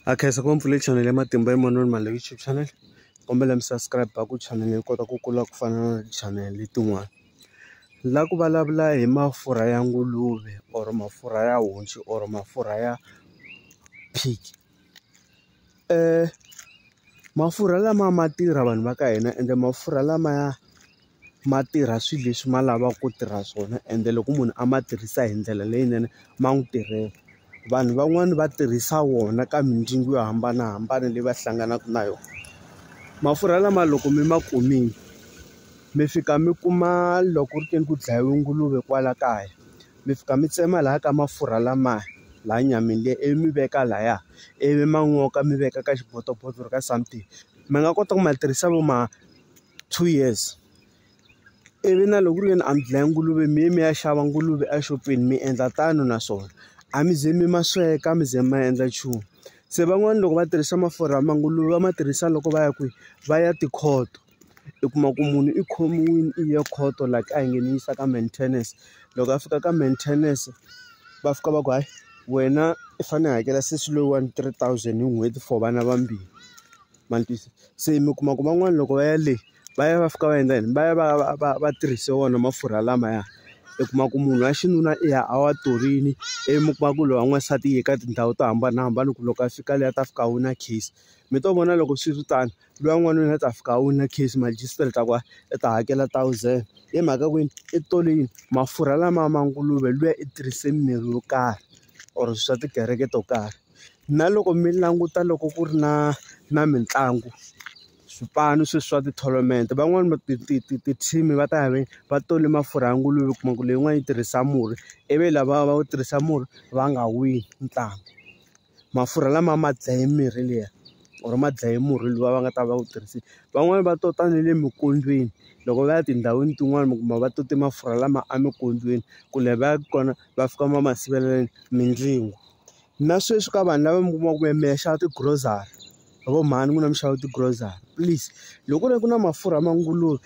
a khensa ku mpfula channel ya matimba ya manoni mali youtube channel kombela mi subscribe a ku channel yi kota ku kula ku fana na channel tin'wana la ku vulavula hi mafurha ya nguluve or mafurha ya honci or mafurha ya pig mafurha lama ma tirha vanhu va ka hina ende mafurha lamaya ma tirha swilo leswi ma lavaka ku tirha swona ende loko munhu a ma tirhisa hi ndlela leyinene ma n'wi tirhela vanhu van'wani va tirhisa wona ka mindyangu yo hambanahambana leyi va hlanganaka na yona mafurha lama loko mi ma kumile mi fika mi kuma loko ri teni ku dlayiwe nguluve kwala kaya mi fika mi tsema laya ka mafurha lamaya laha nyameni liya ivi mi veka laya ivi ma n'oka mi veka ka xibotoboto or ka something mi nga kota ku ma tirhisa vo ma. two years ivi na loko ku ri ke ni a mi dlaya nguluve mi ye mi ya xava nguluve exopeni mi endla tano na swona a mi ze mi ma sweka mi ze mi endla nchumu se van'wani loko va tirhisa mafurha ya manguluve va ma tirhisa loko va ya kwihi va ya tikhoto i kuma ku munhu i khomiwile i ya khoto la kaya nge ni yisa ka maintenance loko a fika ka maintenance va fika va ku hayi wena i fanele i hakela sesi loyiwani three thousand hi n'hweti for vana vambirhi. ma ni twisisa se mi kuma ku van'wani loko va ya le va ya va fika va endla yini va ya va ya va va va tirhise wona mafurha lamaya i kuma ku munhu wa xinuna i ya a wa torini i mi kuma ku lowa n'wansati i ye ka tindhawu to hambanahambana ku loko a fika le a ta fika a wina case mi to vona loko swi ri tano luya n'wanuna a ta fika a wina case magistrate a ku hayi i ta hakela thousand hi mhaka kwini i torini mafurha lama ma nguluve luya i tirhise mirhi yo karhi or swa tikereke to karhi. Na loko mi languta loko ku ri na na mitlangu swipanu sweswi swa ti-tournament van'wani va ti ti ti ti-team va ta ya ve va tole mafurha ya nguluve u kuma ku leyin'wani yi tirhisa murhi ivi lava va wu tirhisa murhi va nga wini ntlangu mafurha lama ma dlaye mirhi liya or ma dlaye murhi luwa va nga ta va wu tirhisini van'wani va tota na le minkondzweni loko va ya tindhawini tin'wani mi kuma va tote mafurha lama eminkondzweni ku lava yaka kona va fika va ma sivelela yini mindzingo. na sweswi ka vanhu lava mi kuma ku mi ya xava ti-grocery hi ku mhani n'wina mi xava ti-grocery please loko ku ri ku na mafurha ma nguluve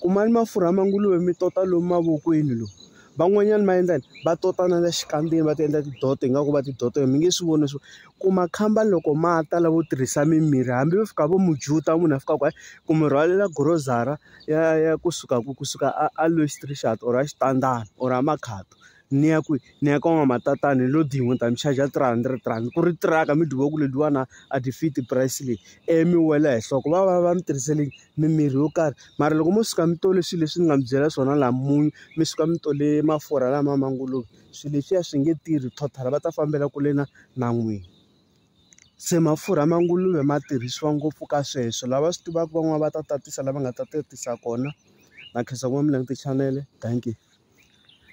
kumani mafurha ma nguluve mi tota lomu mavokweni lomu van'wanyana va endla yini va tota na le xikandzeni va ti endla tidoto ingaku va tidoto mi nge swi voni leswaku ku makhamba loko ma ta lavo tirhisa mimirhi hambi vo fika vo mujuta munhu a fika ku ku mi rhwalela grocery ya ya kusuka kusuka a a Louis Trichardt or a Xitandani or a Makhado. ni ya kwihi ni ya ka n'wamatatani ni lo dyi n'we ni ta mi charge-a three hundred rand ku ri tiraka mi dyiwaka ledyiwana a ti fit price leyi ivi mi wela hi nhloko va va va mi tirhisele mimirhi yo karhi mara loko mo suka mi tole swilo leswi ni nga mi byela swona laha munyu mi suka mi tole mafurha lama ma ngo lo swilo leswiya swi nge tirhi total va ta fambela kule na na n'wina se mafurha ma nguluve ma tirhisiwa ngopfu ka sweswo lava swi tivaka van'wani va ta tatisa lava nga ta tatisa kona na khensa ku va mi languta chanele dankie.